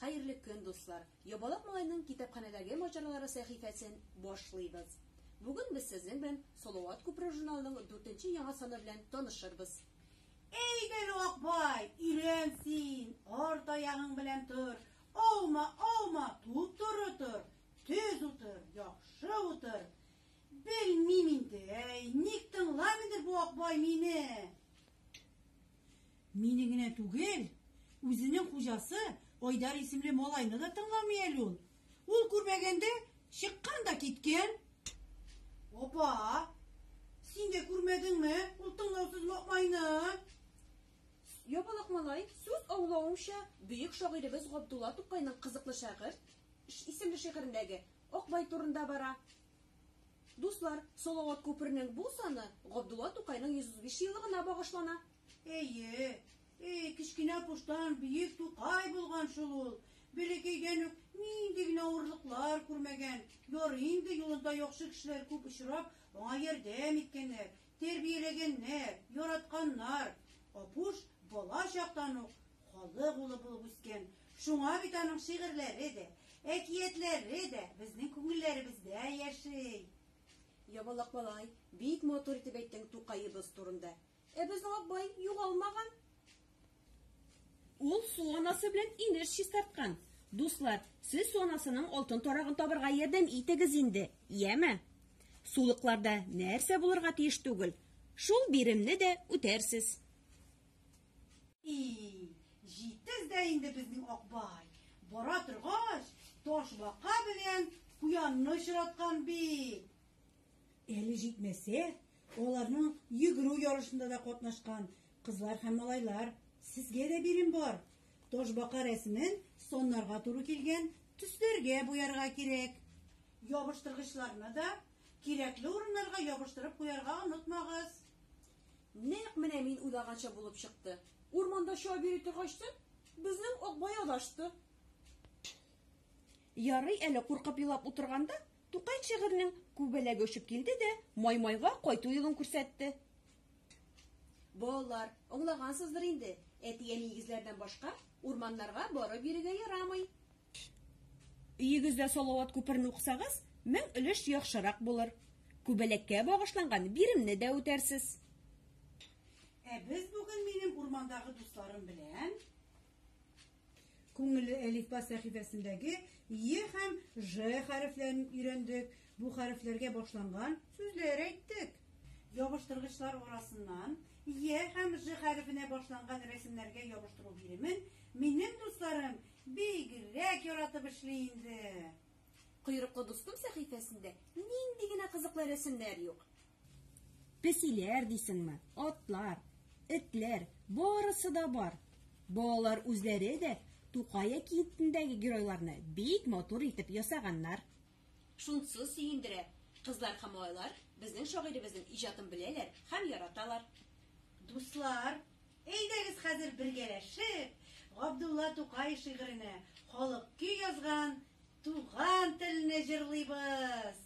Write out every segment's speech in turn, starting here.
Хәерле көн, дуслар! Ябалак малайның китапханәдәге маҗаралары сәхифәсен башлыйбыз. Бүген без сезнең белән Салават күпре журналының 4 нче яңа саны белән танышырбыз. Әйдә, Акбай, өйлән син, арт аягың белән тор. Олма, олма, туп-туры тор, төз утыр, яхшы утыр. Белмим инде, әй, ник тыңламыйдыр бу Акбай мине? Мине генә түгел, үзенең хуҗасы Айдар исемле малайны да тыңламый әле ул. Ул күрмәгәндә чыккан да киткән. Опа! Син дә күрмәдеңме ул тыңлаусыз Мокмайны? Ябалак малай, сүз аулавымча, бөек шагыйребез Габдулла Тукайның Кызыклы шәгырь исемле шигырендәге Акбай турында бара. Дуслар, Салават күперенең бу саны Габдулла Тукайның 135 еллыгына багышлана. Әйе, әй, кечкенә куштан биек тукай булган шул ул. Бәләкәйдән үк нинди генә авырлыклар күрмәгән. Ярый инде юлында яхшы кешеләр күп очрап, аңа ярдәм иткәннәр, тәрбияләгәннәр, яратканнар. Апуш бала чактан ук халык улы булып үскән. Шуңа бит аның шигырьләре дә, әкиятләре дә безнең күңелләребездә яши. Ябалак малай, бик матур итеп әйттең Тукаебыз турында. Ә безнең Акбай югалмаган. Ул су анасы белән инеш чистарткан. Дуслар, сез су анасының алтын тарагын табырга ярдәм итегез инде, яме? Сулыкларда нәрсә булырга тиеш түгел? Шул биремне дә үтәрсез. И, җитез дә инде безнең Акбай. Бара торгач, таш бака белән куянны очраткан бит. Әле җитмәсә, Аларның йөгерү ярышында да катнашкан кызлар һәм малайлар. Сезгә дә бирем бар. Ташбака рәсемен саннарга туры килгән төсләргә буярга кирәк. Ябыштыргычларны да кирәкле урыннарга ябыштырып куярга онытмагыз. Нәкъ менә мин уйлаганча булып чыкты. Урманда чабып йөри торгач та, безнең Акбай адашты. Ярый әле куркып елап утырганда, Тукай шигырьнең күбәләге очып килде дә Маймайга кайту юлын күрсәтте. Балалар, аңлагансыздыр инде, әти-әни игезләрдән башка урманнарга барып йөрергә ярамый. Өегездә Салават күперен укысагыз, мең өлеш яхшырак булыр. Күбәләккә багышланган биремне дә үтәрсез. Ә без бүген минем урмандагы дусларым белән Күңелле әлифба сәхифәсендәге Е һәм Ж хәрефләрен өйрәндек, бу хәрефләргә башланган сүзләр әйттек. Ябыштыргычлар арасыннан Е һәм Ж хәрефенә башланган рәсемнәргә ябыштыру биремен минем дусларым бигрәк яратып эшли инде. Койрыклы дустым сәхифәсендә нинди генә кызыклы рәсемнәр юк! Песиләр дисеңме, атлар, этләр, барысы да бар. Балалар үзләре дә Тукай әкиетендәге геройларны бик матур итеп ясаганнар. Шунсы сөендерә, кызлар һәм малайлар безнең шагыйребезнең иҗатын беләләр һәм яраталар. Дуслар, әйдәгез хәзер бергәләшеп Габдулла Тукай шигыренә халык көй язган Туган телне җырлыйбыз!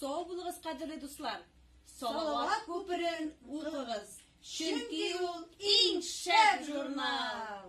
Сау булыгыз, кадерле дуслар! Салават күперен укыгыз, чөнки ул иң шәп журнал!